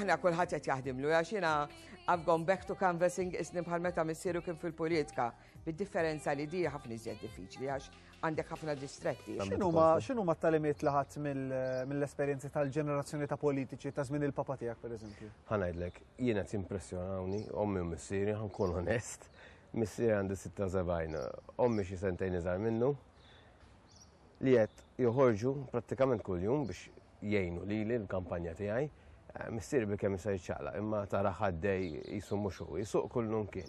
Aħna kulħadd qed jaħdimlu għax jiena I've gone back to canvassing isni bħal meta missieru kien fil-politika, bid-differenza li di ħafna iżjed diffiċli għax għandek ħafna distretti. X'inhu ma talimiet li ħadd mill-esperjenzi tal-ġenerazzjoni ta' politiċi ta' żmien il-papa tiegħek pereżempju? Ħanajdlek, jiena timpressjonawni, ommi u missieri, ħankun onest, missieri għandi 76, ommi xi sentejn iżgħar minnu, li qed joħorġu prattikament kuljum biex jgħinu lili l-kampanja tiegħi. Missieri bil-kemm jista' jiċċaqlaq, imma tarah għaddej qisu mhux hu, jsuq kull lum kien.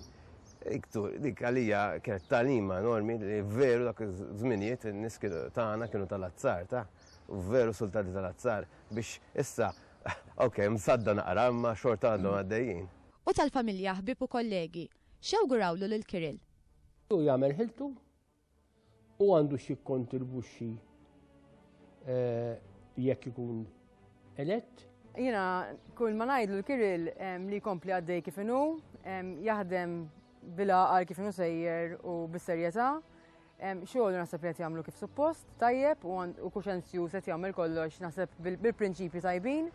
Dik għalija kienet tagħlima enormi li veru dak iż-żminijiet in-nies tagħna kienu tal-azzar ta', veru sultati tal-azzar biex issa, ok, msadda naqra imma xorta għadhom għaddejjin. U tal-familja, ħbieb u kollegi, x'jawgurawlu lil Kirill? Hu jagħmel ħiltu u għandu xi kontribuxxi eh, jekk ikun elett. Jina, kull ma ngħidlu l-Kiril li kompli għaddej kif inhu, jaħdem bil-għaqal kif inhu sejjer u bis-serjetà. Xogħol naħseb li qed jagħmlu kif suppost, tajjeb u kuxenzju se jagħmel kollox naħseb bil-prinċipji tajbin.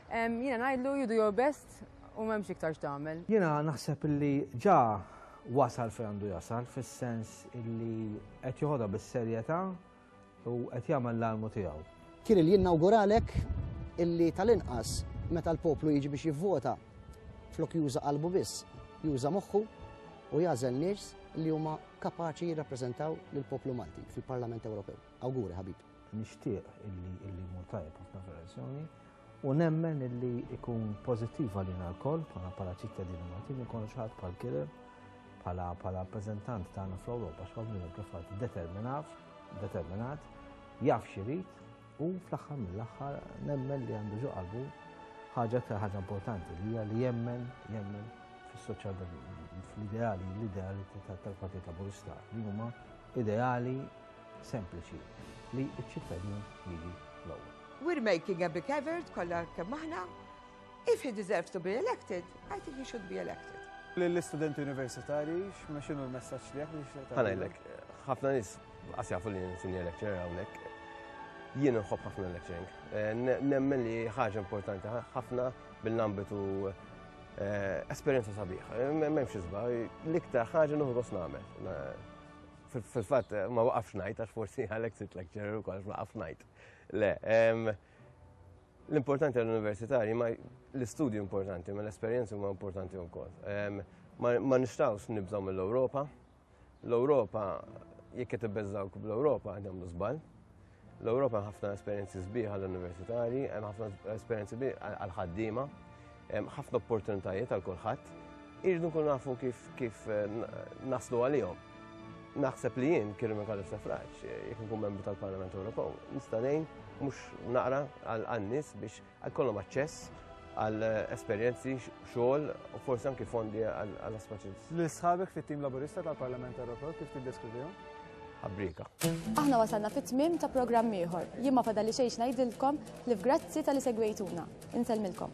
Jiena ngħidlu you do your best u m'hemmx iktar x'tagħmel. Jiena naħseb li ġa wasal fejn għandu jasal fis-sens li qed joħodha bis-serjetà u qed jagħmel l-almu tiegħu. Kien li jinnawguralek illi tal-inqas meta l-poplu jiġi biex jivvota flok juża qalbu biss, juża moħħu u jażel nies li huma kapaċi jirrappreżentaw lill-poplu Malti fil-Parlament Ewropew. Awguri ħabib. Nixtieq illi illi jmur tajjeb ħafna fir-elezzjoni u nemmen illi ikun pożittiv għalina l-koll bħala bħala ċittadini Maltin ikun xaħat bħal kieler bħala bħala rappreżentant tagħna fl-Ewropa x'għamlu kif għad determinat determinat jaf xirid u fl-aħħar mill-aħħar nemmen li għandu ġo qalbu ħaġa ta' ħaġa importanti li hija li jemmen jemmen fis-soċjal fl-ideali l-ideali tal-Partit Laburista li huma ideali sempliċi li ċ-ċittadin jiġi l-ewwel. We're making a big effort kollha kemm aħna. If he deserves to be elected, I think he should be elected. L-istudenti universitari, ma xinu l-messaċ li għak? Għanajlek, ħafna nis, għas jafu li n-sinja lecturer għawnek, jien nħob ħafna lecturing. Eh, nemmen li ħaġa importanti ħafna bil-ambitu eh, esperienza sabiħ. Eh, Memx izba, l-iktar ħaġa nuħu għos namel. Fil-fatt, ma waqafx ngħid, għax forsi għalhekk sit lecturer ukoll ma waqafx ngħid. Le, l-importanti għall-universitari ma l-istudju importanti, ma l-esperjenzi huma importanti wkoll. Ma nistgħux nibżgħu mill-Ewropa. L-Ewropa, jekk qed ibbeżżawk bl-Ewropa, għandhom żball. L-Ewropa hemm ħafna esperjenzi sbieħ għall-universitari, hemm ħafna esperjenzi għall-ħaddiema, hemm ħafna opportunitajiet għal kulħadd. Irridu nkunu nafu kif kif eh, naslu għalihom. Naħseb li jien kien minn kalif safraġ, eh, jekk nkun membru tal-Parlament Ewropew, nista' ngħin mhux naqra għal nies biex jkollhom aċċess għal esperjenzi, xogħol u forsi anki fondi għal aspaċins. Li sħabek fit-tim laburista tal-Parlament Ewropew kif tiddeskrivihom? Abrika. Aħna wasalna fit-tmim ta' programm ieħor. Jien ma fadali xejn ngħidilkom li f'grazzi tal-li segwejtuna. Insellmilkom.